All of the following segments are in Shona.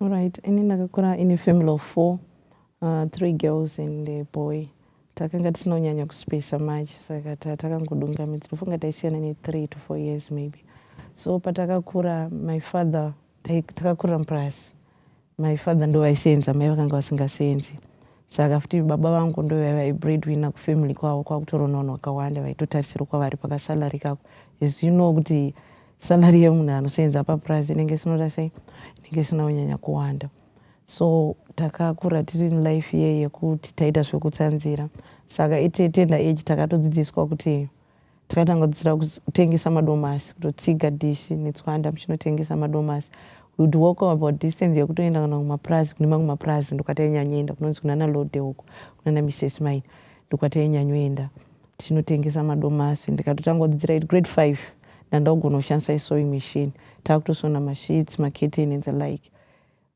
Alright, ini ndakakura in a family of four, uh, three girls and a boy. Takanga tisina kunyanya kuspesa much saka takangodunga midzi. Ndofunga taisiyana ne three to four years maybe. So patakakura my father takakurira mupurasi. My father ndo vaisenza, mai vakanga vasingasenzi. Saka futi baba vangu ndo vaiva breadwinner kufamily kwavo kwakutoronawo vakawanda vaitotarisirwa kwavari pakasalary kako. As you know kuti salary yemunhu anosenza papurazi inenge sinoda sei inenge isina kunyanya kuwanda so takakura tiri in life ye yekuti taita zvekutsanzira saka itetenda age takatodzidziswa kuti takatanga kudzidzira kutengesa madomasi kutotsiga dishi netswanda muchinotengesa madomasi would walk about distance yekutoenda kana kumapurazi kune mamwe mapurazi ndokwatainyanyoenda kunonzi kunana lode uko kunana misses mine ndokwatainyanyoenda tinotengesa madomasi ndikatotanga kudzidzira it grade 5 ndandakugona kushandisa isewing machine takutosona masheets maketeni and the like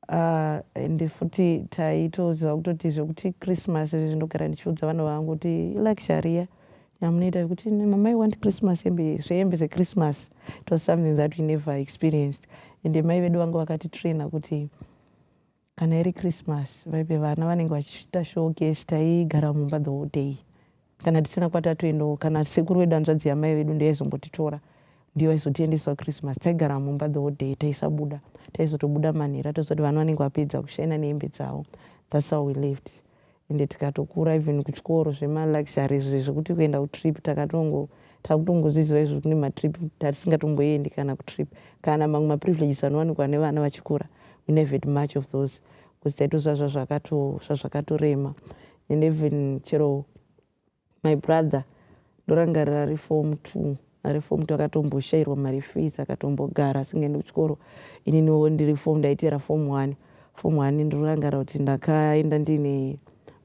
uh, and futi taitoziva kutoti zvekuti christmas izvezvi ndogara ndichiudza vana vangu kuti ilike sharia yamunoita yekuti mama i want christmas hembe zvehembe zechristmas it was something that we never experienced and mai vedu vanga vakatitraina kuti kana iri christmas vaive vana vanenge vachiita showcase taigara mumba the whole day kana tisina kwatatoendawo kana sekuru wedu hanzvadzi yamai vedu ndeyaizombotitora ndiyo aizotiendesa christmas taigara mumba the whole day taisabuda taizotobuda manhera tozoti vana vanenge vapedza kushaina nehembe dzavo thats how we lived ende tikatokura even kuchikoro zvemaluxury izvi zvekuti kuenda kutrip takatongo takutongozviziva izvo kune matrip tatisingatomboendi kana kutrip kana mamwe maprivileges anowanikwa nevana vachikura we never had much of those because taitoziva zvazvakatorema and even chero My brother ndorangarira ari form two ari form two akatomboshairwa mari fees akatombogara asingaendi kuchikoro ininiwo ndiri form ndaiteera form one form one ndinorangarira kuti ndakaenda ndiine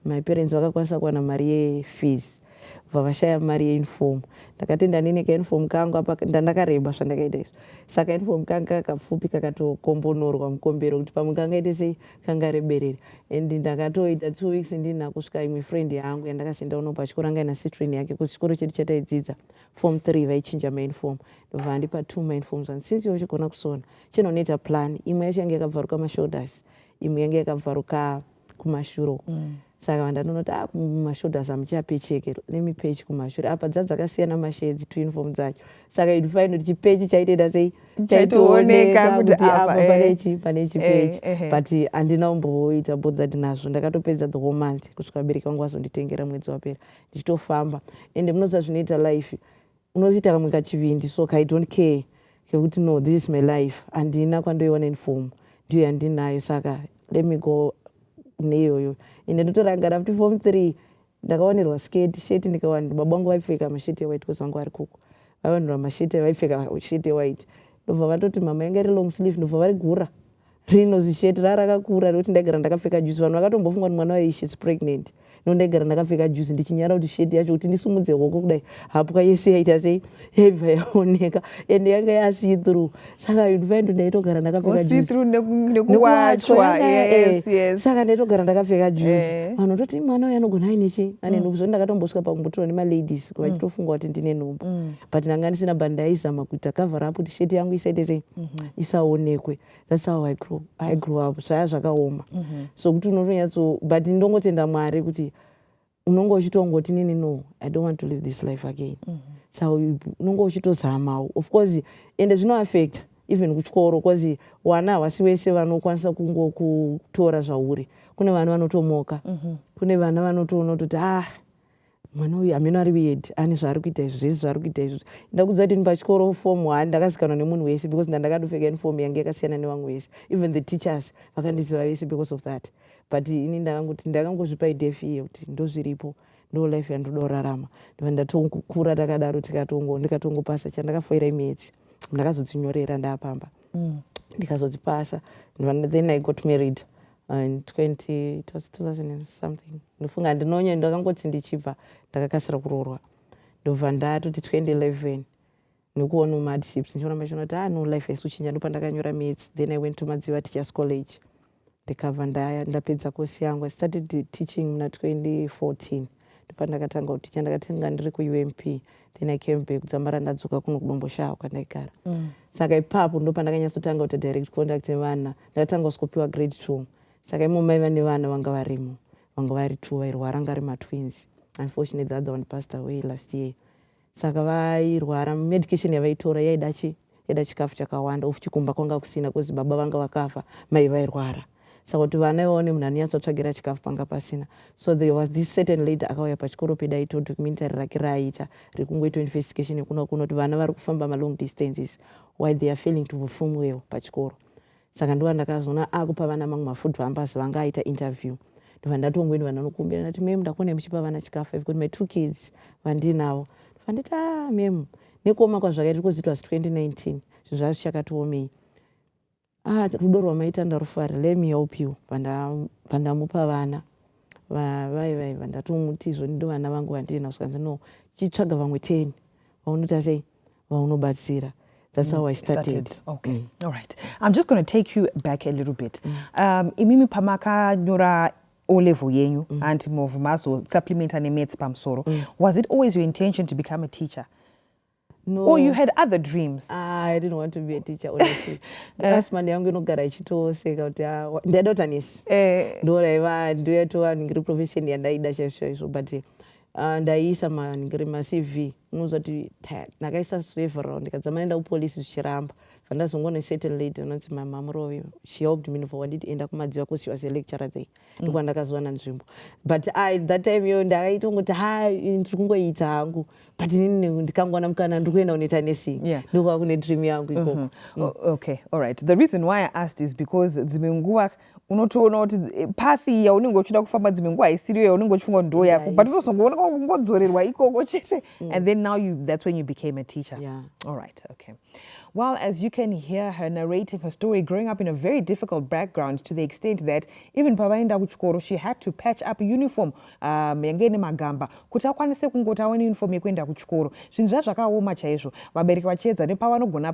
my parents vakakwanisa kuwana mari yefees bva vashaya mari yeuniform ndakatenda nini kauniform kangu apa ndandakareba zvandakaita izvi saka uniform kangu kakapfupi kakatokombonorwa mukombero kuti pamwe kangaite sei kanga reberera and ndakatoita two weeks ndina kusvika imwe friend yangu yandakasenda uno pachikoro anga ina citrin yake kuzi chikoro chedu chataidzidza form three vaichinja main form ndobva vandipa two main forms and since iwe uchigona kusona chinonoita plan imwe yacho yange yakabvaruka mashoulders imwe yange yakabvaruka kumashure uko mm. saka vandanonoti ah, mashoulders amuchape cheke lemi pechi kumashure apa dza dzakasiyana mashedzi twinform dzacho saka you'd find kuti chipechi chaitoita sei chaitooneka kuti apa eh. pane chi pane chipechi eh, eh, but handina umboita bothered nazvo ndakatopedza the whole month kusvika vabereki vangu vazonditengera mwedzi wapera ndichitofamba and munoziva zvinoita life Unotoita kamwe kachivindi so ka I don't care kekuti no this is my life handina kwandoiona in form ndiyo yandinayo saka let me go neiyoyo ende ndotorangara kuti form three ndakawanirwa sketi sheti ndikawani baba vangu vaipfeka masheti ewhite because vangu vari kuku vaiwanirwa masheti vaipfeka sheti ewhite ndobva vatoti mama yanga iri long sleeve ndobva varigura Rino zishirt rara rakakura rekuti ndaigara ndakapfeka juzi vanhu vakatombofunga kuti mwana wayo she's pregnant no ndaigara ndakapfeka juzi ndichinyara kuti shirt yacho kuti ndisumudze hoko kudai hapwa yese yaita sei yaibva yaoneka ende yanga yasee through saka yunivaendo ndaitogara ndakapfeka juzisaka ndaitogara ndakapfeka juzi eh. vanhu vatoti mwana uyo anogona aine chii ane mm. nhumbu zvoti ndakatombosvika pakumbotirwa nemaladies mm. vachitofunga kuti ndine nhumbu mm. but ndanga ndisina but ndaizama kuita cover up kuti shirt yangu isaite sei mm-hmm. isaonekwe that's how i grew, I grew up zvaya zvakaoma mm -hmm. so kuti unotonyatso but ndongotenda mwari kuti unonge uchitongoti nini no i don't want to live this life again mm -hmm. so unonge uchitozamawo of course ende zvinoaffecta even kuchikoro bcause wana havasi wese vanokwanisa kungokutora zvauri kune vana vanotomoka mm -hmm. kune vana vanotoona kutoti ah mwana uyu ameno ari weird ane zvaari kuita izvi zvese zvaari kuita izvi ndakudza kuti ndipachikoro form one ndakazikanwa nemunhu wese because ndandakadopfeka uniform yange yakasiyana nevamwe vese even the teachers vakandiziva vese because of that but ini ndakangoti ndakangozvipa ideef iye kuti ndozviripo ndo life yandoda kurarama ndiva ndatongokura takadaro tikatongo ndikatongopasa chandakafoira imiyedzi ndakazodzinyorera ndaapamba mm. ndikazodzipasa then i got married in 20 something ndofunga ndinonya ndakangoti ndichibva ndakakasira kuroorwa ndobva ndatoti 2011 nekuona mumadships ndichiramba chino kuti ano ah, life yesu chinja ndopandakanyora mats then i went to madziva teachers college ndikabva ndapedza kosi yangu i started teaching muna 2014 ndopandakatanga kuticha ndakatanga ndiri kuump then i came back kudzambara ndadzoka kuno kudomboshawa kwandaigara mm. saka ipapo ndopandakanyatsotangakuita direct contact nevana ndakatanga kuskopiwa grade two saka imo mai vane vana vanga varimo vanga vari two vairwara anga ari matwins unfortunately the other one passed away last year saka vairwara medication yavaitora yaida chi yaida chikafu chakawanda of chikumba kwanga kusina bcause baba vanga vakafa mai vairwara saka kuti vana ivavo nemunhu anonyatsotsvagira chikafu panga pasina so there was this certain lady akauya pachikoro pedu aito documentary rake raaita rekungoita investigation yekuno kuno kuti vana vari kufamba malong distances why they are failing to perform well pachikoro saka ndova ndakazoona akupa vana mamwe mafood pampers vanga aita interview ndova ndatongoenda vana nokumbira ndati mem ndakuonai muchipa vana chikafu i've got my two kids vandiinavo ndova nditi a ah, mem nekuoma kwazvakaita because it was 2019 zvinhu zvaa zvichakatiomei a ah, rudo rwamaita ndarufara let me help you pandamupa vana vai vaiva ndatomuti izvo ndindo vana vangu vandiinavo zvikanzi no chitsvaga vamwe ten vaunoti asei vaunobatsira That's how I mm, started. started. Okay. Mm. All right. I'm just going to take you back a little bit. Mm. Um, imimi pamakanyora O level yenyu mm. and move mazo supplement and maths pamsoro. Mm. Was it always your intention to become a teacher? No. Or you had other dreams? Ah, I didn't want to be a teacher honestly. Eh. Last Monday yangu inogara ichitoseka kuti ah, ndaida kuti anesi. Eh. Ndoraiva ndoyatova ndiri profession yandaida chaizvo chaizvo but eh, Ah, ndaiisa macv unoziva kuti ndakaisa several ndikadzama enda kupolice zvichiramba vandazongona certain lady anonzi mamamuroi she helped me for wanditi enda kumadziva cause she was a lecturer there mm. ndikuva ndakazowana nzvimbo but i that time yo ndakaita kungoti ha ndiri kungoita hangu but inini ndikangowana mukana ndiri kuenda kunoita nesing ndokuva kune dream yangu ikoko mm-hmm. okay all right the reason why i asked is because dzimwe nguva unotoona kuti eh, path iya unenge uchida kufamba dzimwe nguva haisiriyo yaunenge uchifunga kuti ndo yako but unozongoona kungodzorerwa ikoko chete mm. and then now you, that's when you became a teacher yeah. all right okay Well, as you can hear her narrating her story, growing up in a very difficult background to the extent that even pavaenda kuchikoro she had to patch up uniform um, yange ine magamba kuti akwanise kungoti aone uniform yekuenda kuchikoro zvinhu zvazvakaoma chaizvo vabereki vachiedza nepavanogona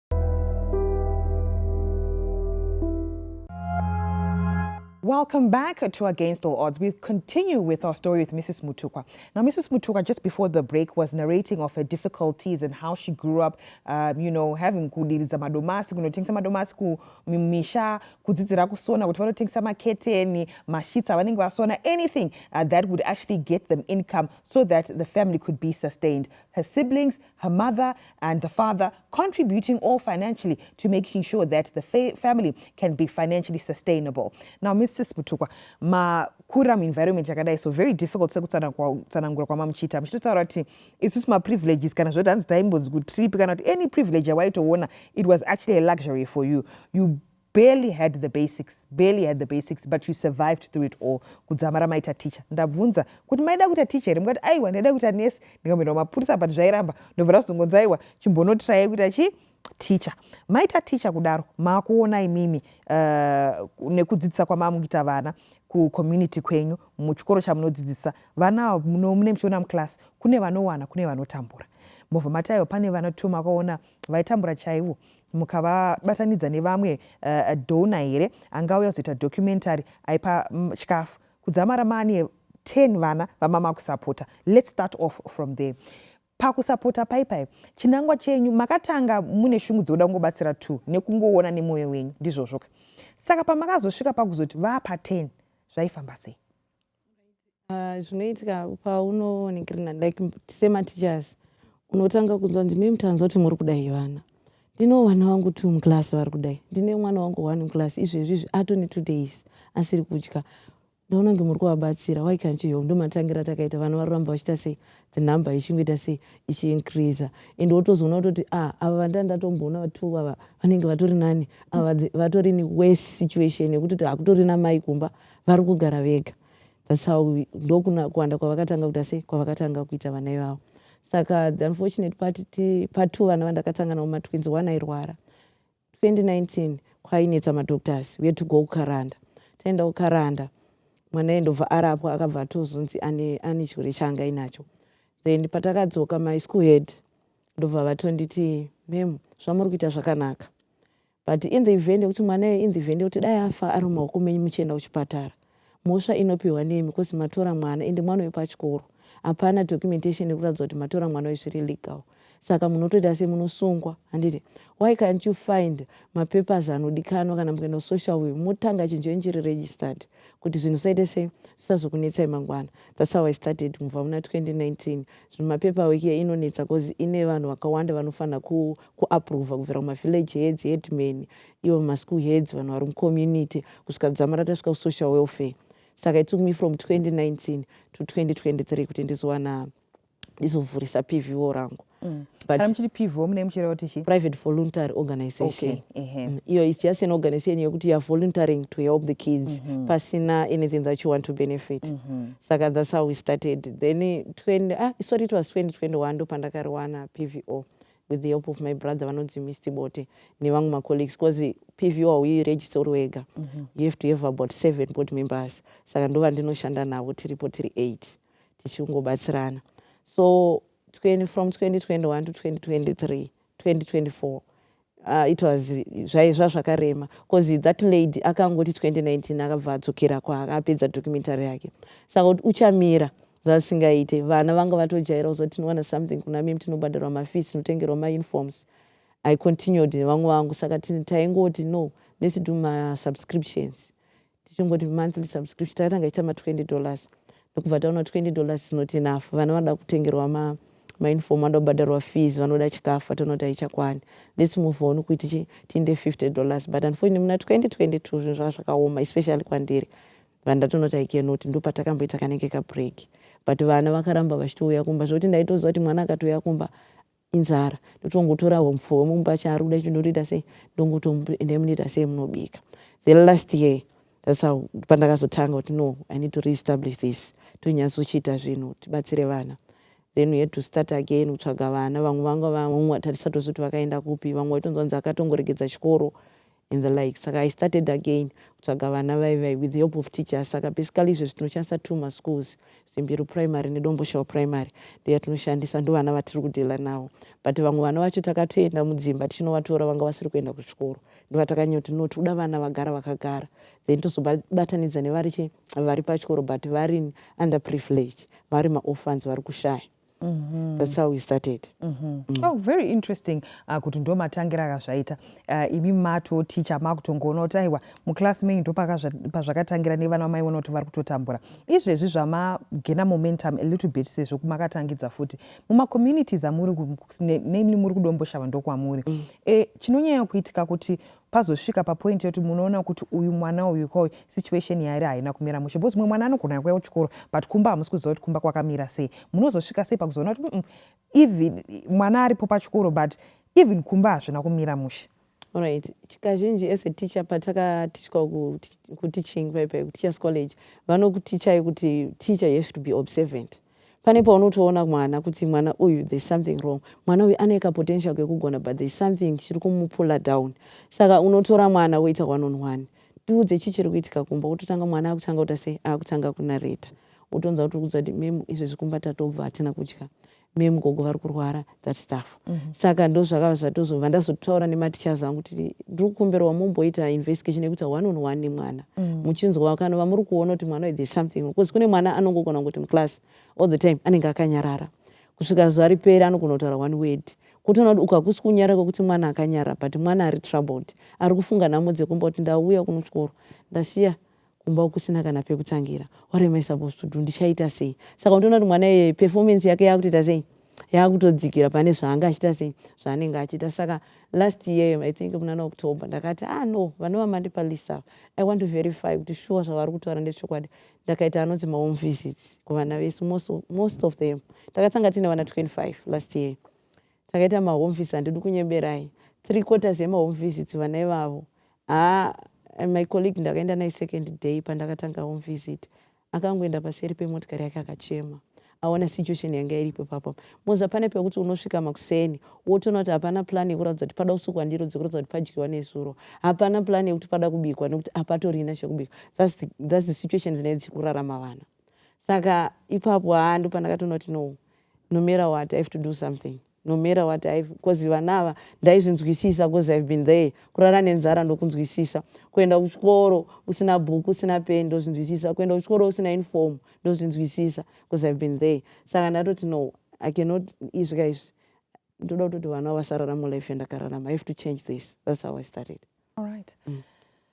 Welcome back to Against All Odds. We continue with our story with Mrs. Mutukwa. Now, Mrs. Mutukwa, just before the break, was narrating of her difficulties and how she grew up, um, you know, having kudiriza madomasi, kunotengesa madomasi kumisha, kudzidzira kusona, kuti vanotengesa maketeni, mashitsa, vanenge vasona, anything uh, that would actually get them income so that the family could be sustained. Her siblings her mother and the father contributing all financially to making sure that the fa family can be financially sustainable. Now, Mrs. Butukwa, ma kura muenvironment yakadai so very difficult sekutsanangura kwamamuchiita muchitotaura kuti isusu maprivileges kana zvoti hanzi taimbonzi kutrip kana kuti any privilege yawaitoona it was actually a luxury for you you barely had the basics barely had the basics but you survived through it all kudzamara maita teacher ndabvunza kuti maida kuita teacher here mukati aiwa ndaida kuita nurse ndikamboenda kumapurisa but zvairamba ndobva ndazongonzi aiwa chimbonotirai kuita chii ticha maita ticha kudaro makuona imimi uh, nekudzidzisa kwamamuita vana kucommunity kwenyu muchikoro chamunodzidzisa vana mune muchiona muclass kune vanowana kune vanotambura mobva mataiwa pane vana two makaona vaitambura chaivo mukavabatanidza nevamwe uh, dona here angauya kuzoita documentary aipa mm, chikafu um, kudzamara maane 10 vana vamama kusapota let's start off from there pakusapota paipai chinangwa chenyu makatanga mune shungu dzekuda kungobatsira two nekungoona nemwoyo wenyu ndizvozvoka saka pamakazosvika pakuzoti vapa 10 zvaifamba sei Ah, zvinoitika paunoonekera like semateachers unotanga kunzwa kuti mimi tanzwa kuti muri kudai vana ndinewo vana vangu two muclass vari kudai ndine mwana wangu one muclass izvezvi izvi atone two days asiri kudya ndaona kunge muri kuvabatsira why can't you help ndomatangira takaita vana vari kuramba vachiita sei the number ichingoita sei ichiincreaser and wotozoona kutoti ah ava vanda ndatomboona vatu ava vanenge vatori nani ava vatori newes situation yekutoti hakutorina mai kumba vari kugara vega thats how ndokuwanda kwavakatanga kuita sei kwavakatanga kuita vana ivavo saka the unfortunate part part two vana vandakatanga navo matwins one airwara 2019 kwainetsa madoctors we to go kukaranda taenda kukaranda mwana ye ndobva arapwa akabva atozonzi ane, ane chirwere chaanga inacho then patakadzoka my school head ndobva vatonditi mem zvamuri kuita zvakanaka But in the event yekuti mwana iye in the event yekuti dai afa ari mumaoko menyu muchienda kuchipatara mhosva inopihwa nemi because matora mwana ende mwana uyu pachikoro hapana documentation yekuratidza kuti matora mwana uyu zviri legal saka munotoita se munosungwa handiti why can't you find mapapers anodikanwa kana mukaenda kusocial work motanga chinhu chenyu chiri registered kuti zvinhu zvisaite sei zvisazokunetsai mangwana thats how i started mubva muna 2019 zvino mapepa wiki ye inonetsa bcause ine vanhu vakawanda vanofanira kuaprova ku kubvira kumavillage heads headman ivo maschool heads vanhu vari mucommunity kusvika dzama ratasvika kusocial welfare saka it took me from 2019 to 2023 kuti ndizowana ndizovhurisa pvo rangu mm. kana muchiti pvo mune muchireva kuti chii private voluntary organization mm, iyo is just an organization yekuti youare voluntaring to help the kids mm-hmm. pasina anything that you want to benefit mm-hmm. saka thats how we started then 20 ah, sorry it was 2021 ndo pandakariwana pvo with the help of my brother vanonzi mist bote nevamwe macolleagues bcause pvo hauyi register uri wega mm-hmm. you have to have about seven board members saka ndovandinoshanda navo tiripo tiri eight tichingobatsirana so 20, from 2021 to 2023 2024 Uh, it was zvaizva zvakarema bcause that lady akangoti 2019 akabva adzokera kwaakapedza documentary yake saka kuti uchamira zvasingaite vana vanga vatojaira kuzo tinowana something kuna mim tinobhadharwa mafees tinotengerwa mauniforms i continued nevamwe vangu saka taingoti no let's do masubscriptions tichingoti monthly subscription takatanga ichita ma 20 dollars ndokubva taona 20 dollars is not enough vana vanoda kutengerwa ma mainform vanoda kubhadharwa fees vanoda chikafu vataona kuti haichakwani lets move on kuti tiinde 50 dollars but unfortunately muna 2022 zvinhu zvanga zvakaoma especially kwandiri vandatoona kuti i cannot ndopatakamboita kanenge kabreak but vana vakaramba vachitouya kumba zvekuti ndaitoziva kuti mwana akatouya kumba inzara ndotongotora humfu hwemunhu pacho ari kuda chindotoita sei ndongotoenda munoita sei munobika the last year that's how pandakazotanga kuti no i need to reestablish this tonyatsochiita zvinhu tibatsire vana then we had to start again kutsvaga vana vamwe vanga vamwe vatisatozoti vakaenda kupi vamwe vaitonzwanzi akatongoregedza chikoro and the like saka i started again kutsvaga vana vaivai with the help of teachers saka basically izvezvi tinoshandisa two maschools zimbiru primary nedomboshawa primary ndoya tinoshandisa ndo vana vatiri kudhila navo but vamwe vana vacho takatoenda mudzimba tichinovatora vanga vasiri kuenda kuchikoro ndovatakanyaya kuti no tikuda vana vagara vakagara then tozobatanidza nevari che vari pachikoro but vari under privilege vari maorphans vari kushaya Mm -hmm. That's how we started. Mm -hmm. mm. Oh, very interesting uh, kuti ndo matangira akazvaita uh, imi mato ticha makutongoona kuti aiwa muclass menyu ndo pazvakatangira nevana vamaiona kuti vari kutotambura izvezvi zvamagena momentum a little bit sezvo kumakatangidza futi mumacommunities amuri namely muri kudomboshava ndokwamuri mm. e, chinonyanya kuitika kuti pazosvika papoint yekuti munoona kuti uyu mwana uyu ko situation yaari haina kumira mushe because mumwe mwana anogona kuuya kuchikoro but kumba hamusi kuziva kuti kumba kwakamira sei munozosvika sei pakuzoona kuti mm, even mwana aripo pachikoro but even kumba hazvina kumira mushe Alright. Kazhinji as a teacher patakatichwa kuteaching paipai kuteachers college vanokutichai kuti teacher you have to be observant. pane paunotoona mwana kuti mwana uyu there's something wrong mwana uyu ane kapotential kekugona but there's something chiri kumupula down saka unotora mwana woita one on one tiudze chii chiri kuitika kumba wototanga mwana akutanga kuta sei akutanga kunareta wotonza kuti kuudza kuti mem izvezvi kumba tatobva hatina kudya mem gogo vari kurwara that stuff mm -hmm. saka ndo zvakava zvatozobva ndazotaura nematichers angu kuti ndiri kukumbirwa mumboita investigation yekuti one on one nemwana mm. muchinzwa mm. kana vamuri kuona kuti mwana there's something because kune mwana anongogona kuti muclass all the time anenge akanyarara kusvika zuva riperi anogona kutaura one word kutoona kuti ukakusi kunyara kwekuti mwana akanyara but mwana ari troubled ari kufunga nhamo dzekumba kuti ndauya kunotyoro ndasiya kumba ukusina kana pekutangira what am i supposed to do ndichaita sei saka undiona kuti mwana iye performance yake yakutoita sei yakutodzikira pane zvaanga achiita sei zvaanenge achiita saka last year i think munana october ndakati ah no vanova mandipa lisa i want to verify kuti shuwa zvavari kutaura ndechokwadi ndakaita anonzi mahome visits kuvana vese most, most of them takatanga tiine vana 25 last year takaita mahome visits handidi kunyeberai three quarters yemahome visits vana ivavo Haa and my colleague ndakaenda naye second day pandakatanga home visit akangoenda paseri pemotikari yake akachema aona situation yanga iripo ipapo moza pane pekuti unosvika makuseni wotoona kuti hapana plan yekuratidza kuti pada kusukwa ndiro dzekuratidza kuti padyiwa nesuro hapana plan yekuti pada kubikwa nekuti hapatorina chekubikwa thats the, that's the situation dzinenge dzichikurarama vana saka ipapo haa ndopandakatoona kuti no no matter what i have to do something No matter what I've because vana ava ndaizvinzwisisa because I've been there. Kurara nenzara ndokunzwisisa. Kuenda kuchikoro usina bhuku usina peni ndozvinzwisisa. Kuenda kuchikoro usina uniform ndozvinzwisisa because I've been there. Saka ndatoti no I cannot izvi ka izvi ndoda kutoti vana vasararama life yandakararama. I have to change this. That's how I started. All right. Mm.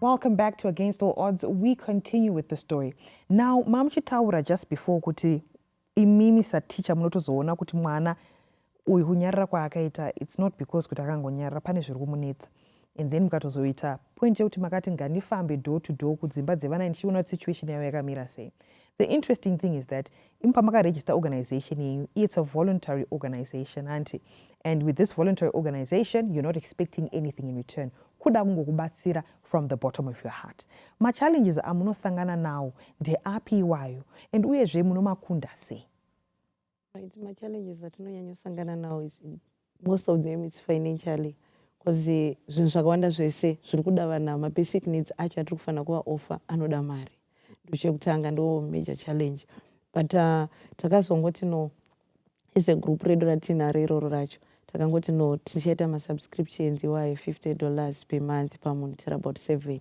Welcome back to Against All Odds. We continue with the story. Now, mom chitaura just before kuti imimi sateacher munotozoona kuti mwana uyu kunyarara kwaakaita it's not because kuti akangonyarara pane zviri kumunetsa. and then mukatozoita point yekuti makati ngandifambe door to door kudzimba dzevana ndichiona kuti situation yavo yakamira sei the interesting thing is that imi pamakaregister organization yenyu it's a voluntary organization hanti and with this voluntary organization you're not expecting anything in return kuda kungokubatsira from the bottom of your heart machallenges amunosangana nawo ndeapi iwayo and uyezve munomakunda sei Right, ma challenges atinonyanya kusangana nawo is most of them it's financially because eh, zvinhu zvakawanda zvese zviri kuda vana ma basic needs acho atiri kufanira kuva offer anoda mari ndochekutanga ndo major challenge but uh, takazongoti no as a group redu ratinaro iroro racho takangoti no tichaita masubscriptions iwayo 50 dollars per month pamunhu tiri about seven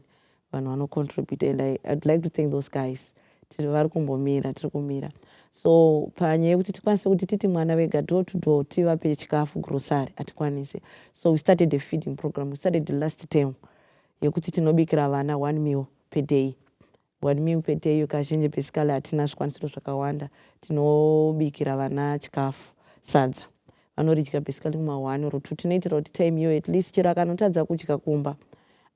vanhu vano contribute and I, I'd like to thank those guys tiri vari kumbomira tiri kumira so panyaya yekuti tikwanise kuti titi mwana vega door to door tivape chikafu grocery hatikwanise so we started a feeding program we started the last term yekuti tinobikira vana one meal per day one meal per day iyo kazhinji basically hatina zvikwanisiro zvakawanda tinobikira vana chikafu sadza vanoridya basically kuma one or two tinoitira kuti time iyo at least chero akanotadza kudya kumba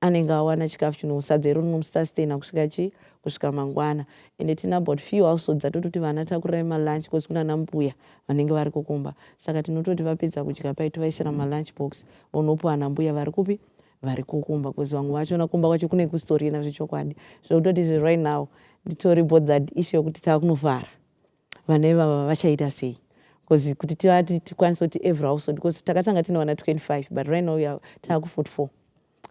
anenge awana chikafu chinosadza iro rinomusustaina kusvika chi kusvika mangwana ende tine about few household dzatototi vana takurai malunch bcause kuna nambuya vanenge vari kukumba saka tinototi vapedza kudya pai tovaisira malunch box vonopuwa nambuya vari kupi vari kukumba bcause vamwe vacho nakumba kwacho kune kusitorina zvechokwadi zvekutoti zve right now nditori bothered issue yekuti takunofara vana ivava vachaita sei bcause kuti tivati tikwanise kuti every household bcause takatanga tine vana 25 but right now ya taaku 44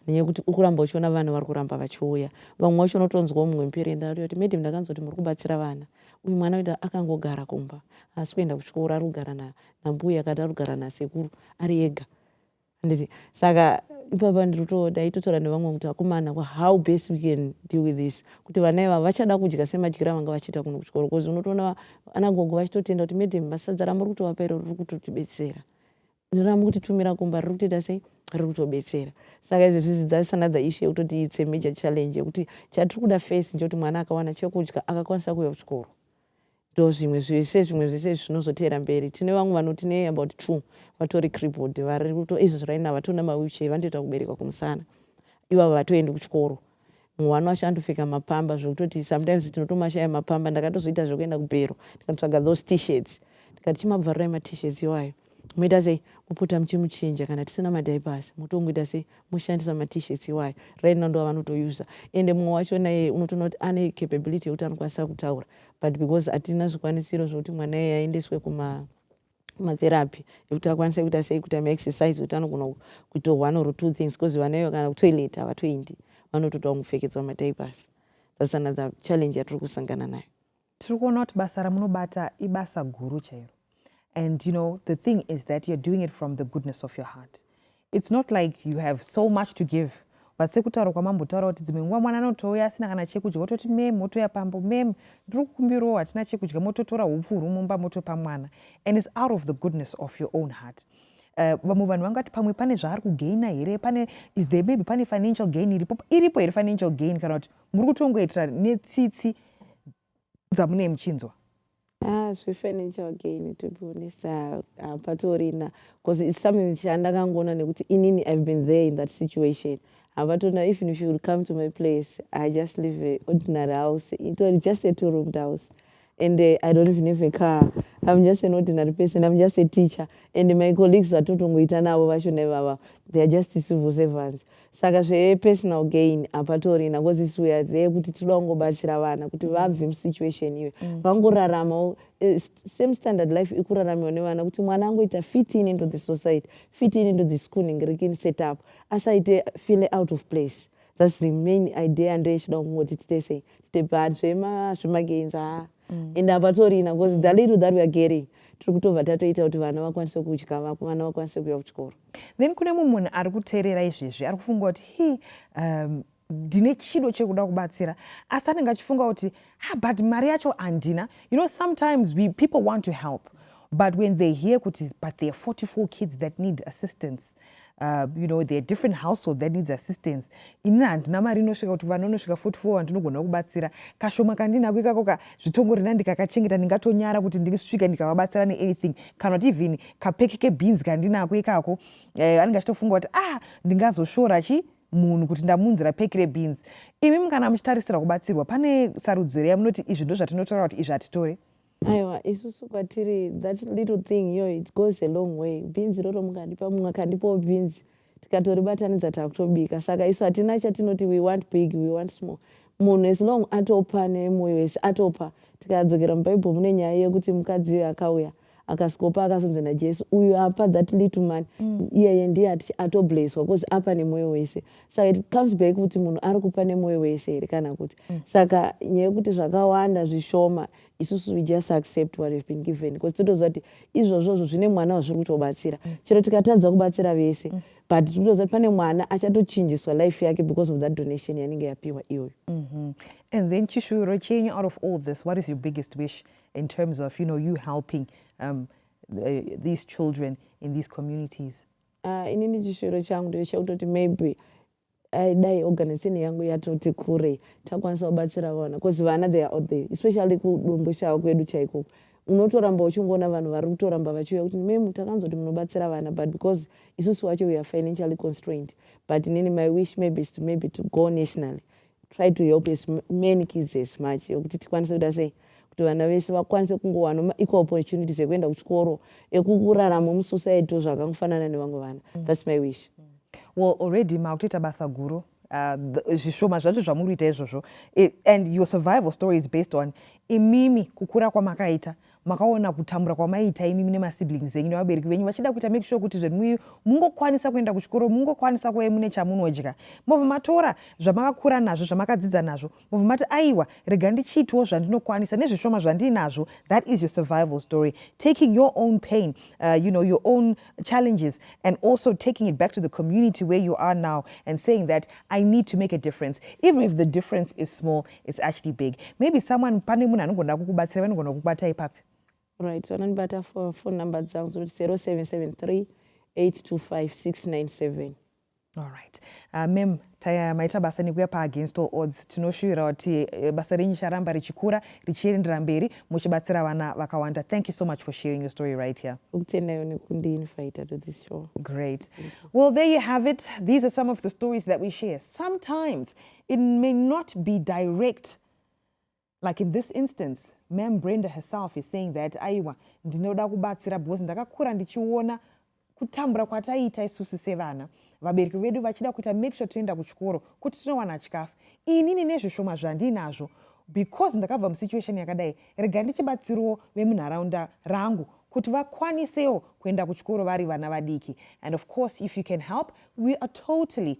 nenyaya yekuti ukuramba uchiona vana vari kuramba vachiuya vamwe vacho unotonzwawo mumwe muperi enda kuti madam ndakanzwa kuti muri kubatsira vana uyu mwana uita akangogara kumba haasi kuenda kuchikoro ari kugara nambuya kana ari kugara nasekuru ari ega handiti saka ipapa ndiritodaitotaura nevamwe kuti akomana how best we can deal with this kuti vana ivavo vachada kudya semadyiro avanga vachiita kuno kuchikoro bcause unotoona ana gogo vachitotenda kuti madam masadza ramuri kutovapa iro riri kutotibetsera ramu kutitumira kumba riri kutoita sei riri kutobetsera saka izvi zvizi thats another issue yekutoti its a major challenge yekuti chatiri kuda face nje kuti mwana akawana chekudya akakwanisa kuuya kuchikoro ndozvimwe zvese zvimwe zvese zvinozoteera mberi tine vamwe vanoti ne about two vatori cribod vari kuto izvo zviraina vatona mawheelchair vanotoita kuberekwa kumusana ivavo vatoendi kuchikoro mumwe wani wacho andopfeka mapamba zvekutoti sometimes tinotomashaya mapamba ndakatozoita zvekuenda kubhero ndikatotsvaga those tshirts ndikati chimabvarurai matshirts iwayo Moita sei? Mopota muchimuchinja kana tisina madiapers motongoita sei? Moshandisa matishirts iwayo right now ndo avanotoyuza ende mumwe wacho naye unotoona kuti ane capability yekuti anokwanisa kutaura but because hatina zvikwanisiro zvokuti mwana iye aendeswe kuma matherapy ekuti akwanise kuita sei kuita maexercise kuti anogona kuita one or two things because vana ivo kana kutoilet havatoendi vanotoda kungopfekedzwa madiapers thats another challenge yatiri kusangana nayo tiri kuona kuti basa ramunobata ibasa guru chairo and you know the thing is that you're doing it from the goodness of your heart it's not like you have so much to give but sekutaura kwamambotaura kuti dzimwe nguva mwana anotouya asina kana chekudya wototi mem wotouya pambo mem ndiri kukumbirawo hatina chekudya mototora upfu huri mumba motopa mwana and it's out of the goodness of your own heart Eh, vamwe vanhu vangati pamwe pane zvaari kugaina here pane is there maybe pane financial gain iripo iripo here financial gain kana kuti muri kutongoitira netsitsi dzamunei muchinzwa Ah, zvefurniture again to be honest ah, ah, patorina because it's something chandakangoona nekuti inini i've been there in that situation havatona even if you would come to my place i just live a ordinary house itori just a two roomed house and uh, i don't even have a car i'm just an ordinary person i'm just a teacher and my colleagues vatotongoita navo vashona ivava they are just civil servants saka zvepersonal gain hapatorina bcause isu weare there kuti tinoda kungobatsira vana kuti vabve musituation iyoyo mm. vangoraramawo eh, same standard life ikuraramiwa nevana kuti mwana angoita fitting into the society fitting into the schooling rikin setup asaite feel out of place That's the main idea and ichida kungoti tite sei tite but zvema zvemagains haa mm. and hapatorina because mm. the little that we are getting tiri kutobva tatoita kuti vana vakwanise kudya vana vakwanise kuuya kuchikoro then kune mumwe munhu ari kuteerera izvezvi ari kufunga kuti hi um, ndine chido chekuda kubatsira asi anenge achifunga kuti ha ah, but mari yacho handina you know sometimes we people want to help but when they hear kuti but there are 44 kids that need assistance Uh, you know there are different household that needs assistance inini handina mari inosvika kuti vana unosvika 44 vandinogona kubatsira kashoma kandinako ikako ka zvitongo rina ndikakachengeta ndingatonyara kuti ndisvika ndikavabatsira neanything kana kuti even kapeki kebeans kandinako ikako eh, anenge achitofunga kuti ah ndingazoshora chi munhu kuti ndamunzira peki rebeans imi mukana muchitarisira kubatsirwa pane sarudzo here yamunoti izvi ndo zvatinotora kuti izvi hatitore Aiwa isusu kwatiri that little thing iyoyo it goes a long way. Bhinzi iroro mukandipa mumwe akandipawo bhinzi tikatoribatanidza takutobika. Saka isu hatina chatinoti we want big, we want small. Munhu as long atopa nemoyo wese atopa. Tikadzokera muBhaibheri mune nyaya yekuti mukadzi uyo akauya akasikopa akazonzi naJesu uyu apa that little man mm. iyeye ndiye ati atoblesswa because apa nemoyo wese saka it comes back kuti munhu ari kupa nemoyo wese here kana kuti mm. saka nyaya yekuti zvakawanda zvishoma isusu we just accept what have been given because tinotoziva kuti izvozvozvo zvine mwana wazviri kutobatsira mm. chero tikatadza kubatsira vese mm. but tinotoziva kuti pane mwana achatochinjiswa life yake because of that donation yanenge yapiwa iyoyo mm-hmm. and then chishuviro chenyu out of all this what is your biggest wish in terms of you know you helping um, the, these children in these communities uh, inini chishuviro changu ndechekutoti maybe I, dai organization yangu yatoti kure takwanisa kubatsira vana bcause vana they are out there especially kudomboshawa kwedu chaikoko unotoramba uchingoona vanhu vari kutoramba vachiuya kuti mem takanzoti munobatsira vana but because isusu wacho we are financially constrained but nini my wish maybe is to maybe to go nationally try to help as many kids as much yokuti tikwanise kuita sei kuti vana vese vakwanise kungowana ma equal opportunities ekuenda kuchikoro ekukuraramo musociety zvakangofanana nevamwe vana mm. thats my wish mm. well already makutoita basa guru uh, zvishoma zvacho zvamuri kuita izvozvo and your survival story is based on imimi kukura kwamakaita makaona kutambura kwamaiita imimi nemasiblings enyu nevabereki venyu vachida kuita make sure kuti zvenwi mungokwanisa kuenda kuchikoro mungokwanisa kuve mune chamunodya mobva matora zvamakakura nazvo zvamakadzidza nazvo mobva mati aiwa rega ndichiitiwo zvandinokwanisa nezvishoma zvandiinazvo that is your survival story taking your own pain uh, you know your own challenges and also taking it back to the community where you are now and saying that i need to make a difference even if the difference is small it's actually big maybe someone pane munhu anogona kukubatsira vanogona kukubata ipapi right vanondibata phone number dzangu zoti 0773 825 697 Alright. Uh, ah, mem taya maita basa nekuya pa against all odds tinoshuvira kuti eh, basa renyu charamba richikura richiendera mberi muchibatsira vana vakawanda thank you so much for sharing your story right here kutendayo nekundiinvita to this show great well there you have it these are some of the stories that we share sometimes it may not be direct Like in this instance, Ma'am Brenda herself is saying that aiwa ndinoda kubatsira because ndakakura ndichiona kutambura kwataiita isusu sevana vabereki vedu vachida kuita make sure toenda kuchikoro kuti tinowana chikafu inini nezvishoma zvandiinazvo because ndakabva musituation yakadai rega ndichibatsirawo vemunharaunda rangu kuti vakwanisewo kuenda kuchikoro vari vana vadiki and of course if you can help we are totally